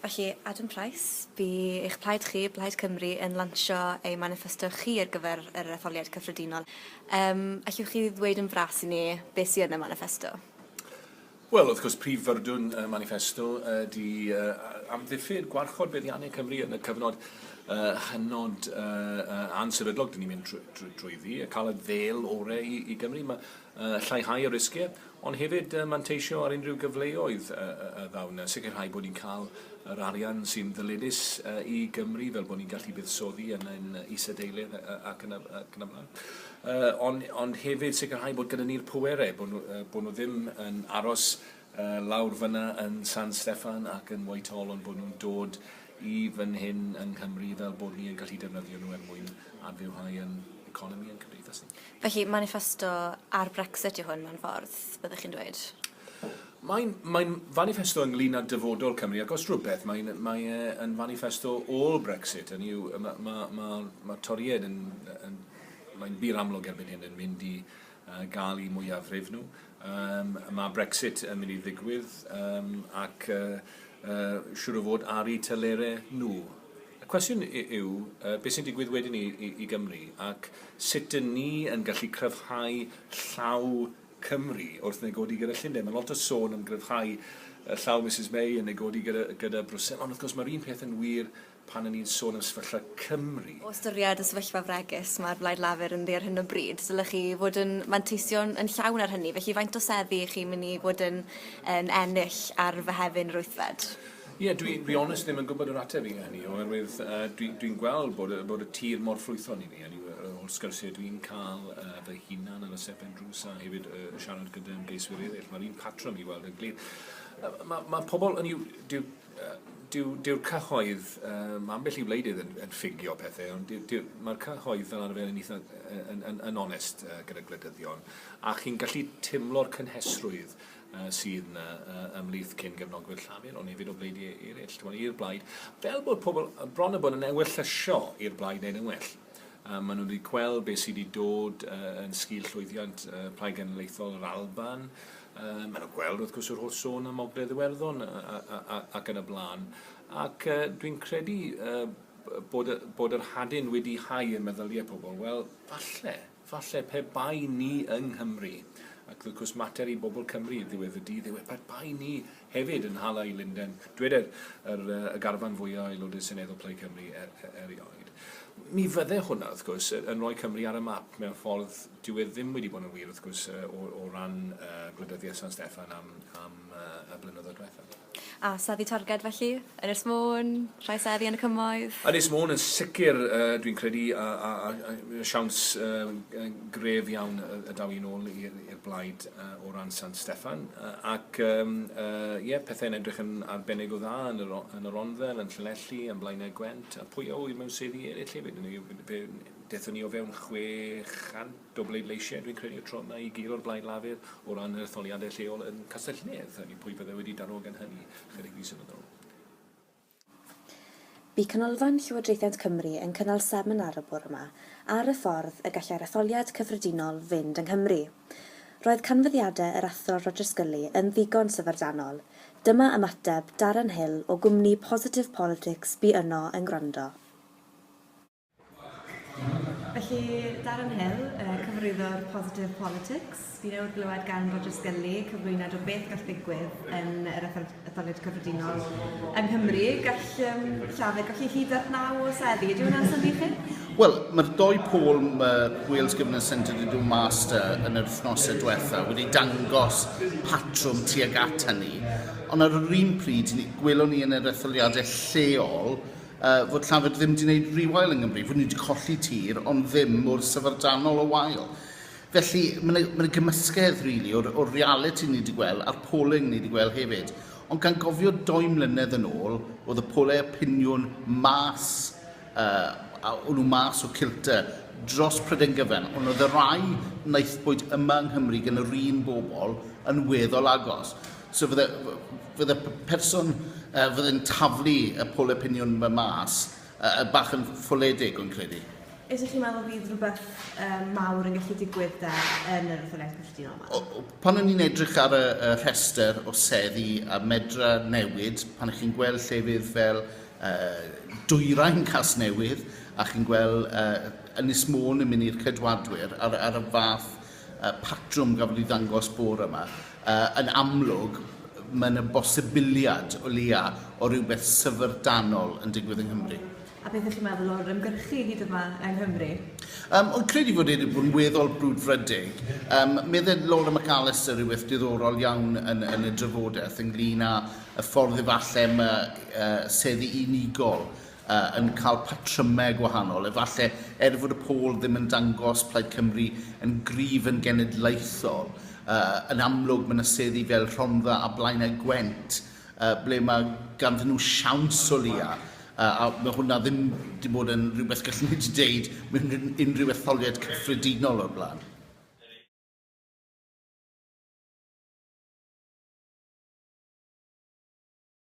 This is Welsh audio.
Felly, Adam Price, bu eich plaid chi, Blaid Cymru, yn lansio ei maniffesto chi ar gyfer yr etholiad cyffredinol. Yym, allwch chi ddweud yn fras i ni beth sydd yn y maniffesto? Wel, wrth gwrs, prif fyrdwn y maniffesto ydy amddiffyn, gwarchod buddiannau Cymru yn y cyfnod hynod ansefydlog dyn ni'n mynd drwyddi, cael y ddêl orau i Gymru, lleihau y risgiau. Ond hefyd manteisio ar unrhyw gyfleoedd a ddaw 'na, sicrhau bod ni'n cael yr arian sy'n ddyledus i Gymru, fel bod ni'n gallu buddsoddi yn ein isadeiledd ac yn y blaen. Ond hefyd sicrhau bod gyda ni'r pwerau, bod nhw ddim yn aros lawr fan'na yn San Steffan ac yn Whitehall, ond bod nhw'n dod i fan hyn yng Nghymru fel bod ni yn gallu defnyddio nhw er mwyn adfywhau yn economi yn cymdeithas ni. Felly, maniffesto ar Brexit yw hwn mewn ffordd, byddwch chi'n dweud? Mae'n mae'n faniffesto ynglyn â dyfodol Cymru ac os rhywbeth mae'n mae e yn faniffesto ôl Brexit, hynny yw ma' ma' ma' ma' Torïaid yn yn mae'n bur amlwg erbyn hyn yn mynd i gael y mwyafrif nhw. Um, mae Brexit yn mynd i ddigwydd um, ac uh, uh, siwr o fod ar eu telerau nhw. Y cwestiwn yw, uh, beth sy'n digwydd wedyn i, i, i Gymru ac sut dyn ni yn gallu cryfhau llaw Cymru wrth negodi gyda Llundain. Mae lot o sôn yn gryfhau llaw Mrs May yn negodi gyda, gyda Brwsel, ond wrth gwrs mae'r un peth yn wir pan ry'n ni'n sôn am sefyllfa Cymru. O ystyried y sefyllfa fregus mae'r Blaid Lafur ynddi ar hyn o bryd, dylech chi fod yn manteisio yn llawn ar hynny, felly faint o seddi ych chi'n mynd i fod yn, yn ennill ar Fehefin yr wythfed? Ie, yeah, dwi, dwi onest ddim yn gwybod yr ateb i hynny, oherwydd uh, dwi'n dwi, dwi gweld bod, bod y tir mor ffrwython i ni, a ni o'r sgyrsiau dwi'n cael uh, fy hunan ar y sepen drws a hefyd uh, siarad gyda ymgeiswyr eraill, mae'r un patrwm i weld yn glir. Uh, mae, mae pobl, yn yw, Dyw, dyw'r cyhoedd, uh, mae ambell i wleidydd yn, yn ffugio pethau, ond mae'r cyhoedd fel arfer yn eitha yn, yn, yn onest uh, gyda gwleidyddion, a chi'n gallu timlo'r cynhesrwydd uh, sydd yna uh, ymlith cyn gefnogwyr Llafur, ond hefyd o bleid eraill, i'r blaid, fel bod pobl bron y bod yn ewyllysio i'r blaid wneud yn well. A maen nhw wedi gweld beth sydd wedi dod yn sgil llwyddiant Plaid Genedlaethol yr Alban. Maen nhw'n gweld, wrth gwrs, yr holl sôn am Ogledd Iwerddon ac yn y blaen. Ac dwi'n credu bod, bod yr hadyn wedi hau y meddyliau pobl, wel, falle, Falle pe bai ni yng Nghymru, ac wrth gwrs mater i bobl Cymru ydyw ef y dydd yw e, pe bai ni hefyd yn hala i Lunden, dyweder yr, yy, y garfan fwya' o Aelodau Seneddol Plaid Cymru er, er, erioed, mi fydde hwnna, wrth gwrs, yy, yn rhoi Cymru ar y map, mewn ffordd, dyw e ddim wedi bod yn wir, wrth gwrs, yy, o, o ran, yy, gwleidyddiaeth San Steffan am, am, yy, y blynyddoedd diwethaf. A seddi targed felly? Ynys Môn? Rhai seddi yn y Cymoedd? Ynys Môn yn sicr dwi'n credu a a a a siawns gref iawn y daw hi'n ôl i'r blaid o ran San Steffan ac ie pethau'n edrych yn arbennig o dda yn yr yn yr Onddel, yn Llanelli, yn Blaenau Gwent a pwy a ŵyr mewn seddi eraill hefyd, fe dethon ni o fewn 600 Do bleidleisiau, dwi'n credu, y tro yma i gyd o'r Blaid Lafur o ran yr etholiadau lleol yn Castell-nedd. Hynny yw, pwy fydde wedi darogan hynny ychydig fisoedd yn ôl? Bu Canolfan Llywodraethiant Cymru yn cynnal seminar y bore yma ar y ffordd y gallai'r etholiad cyffredinol fynd yng Nghymru. Roedd canfyddiadau yr Athro Roger Scully yn ddigon syfrdanol. Dyma ymateb Darren Hill o gwmni Positive Politics bu yno yn gwrando. Felly, Darren Hill, yy cyfarwyddwr Positive Politics, fi newydd glywed gan Roger Sgilly cyflwyniad o beth gall ddigwydd yn yr etholiad cyffredinol yng Nghymru. Gall um, Llafur golli hyd at naw o seddi. Ydy hwnna'n syni chi? Wel, mae'r doi pôl uh, Wales Governance Centre wedi dod mas yn yr wythnosau diwetha wedi dangos patrwm tuag at hynny. Ond ar yr un pryd, gwelwn ni yn yr etholiadau lleol Yy, fod Llafur ddim 'di neud rewail yng Nghymru, fod ni 'di colli tir, ond ddim mor syfrdanol o wael. Felly, ma' 'na, ma' 'na gymysgedd, rili, o'r, o'r realiti ni 'di gwel', a'r polling ni 'di gwel' hefyd. Ond gan gofio dou mlynedd yn ôl, o'dd y pole opiniwn mas, yy, a o'n nhw mas o cilta, dros Prydain Gyfan, ond o'dd y rai naethpwyd yma yng Nghymru gan yr un bobl yn weddol agos. So fydde, fydde person uh, fydde'n taflu y poll opinion yma mas uh, bach yn ffoledig o'n credu. Ydych chi'n meddwl fydd rhywbeth um, mawr yn gallu digwydd da yn yr etholiad cyffredinol yma? Pan o'n i'n edrych ar y, y rhestr o seddi a medra newid, pan ych chi'n gweld lle fydd fel uh, dwyrain cas newydd, a chi'n gweld uh, Ynys Môn yn mynd i'r cydwadwyr ar, ar y fath y patrwm gafodd ei ddangos bore yma, yn amlwg mae yna bosibiliad o leia o rywbeth syfrdanol yn digwydd yng Nghymru. A beth ych chi'n meddwl o'r ymgyrchu hyd yma yng Nghymru? Um, o'n credu fod e wedi bod yn weddol brwdfrydig. Um, medded Laura McAllister rhywbeth diddorol iawn yn, yn y drafodaeth ynglyn â y ffordd efallai mae uh, seddi unigol yn cael patrymau gwahanol, efallai er fod y pôl ddim yn dangos Plaid Cymru yn gryf yn genedlaethol. Yn amlwg, mae yna seddi fel Rhondda a Blaenau Gwent ble mae ganddyn nhw siawns o leia, a mae hwnna ddim wedi bod yn rhywbeth gallen ni wedi deud mewn unrhyw etholiad cyffredinol o'r blaen.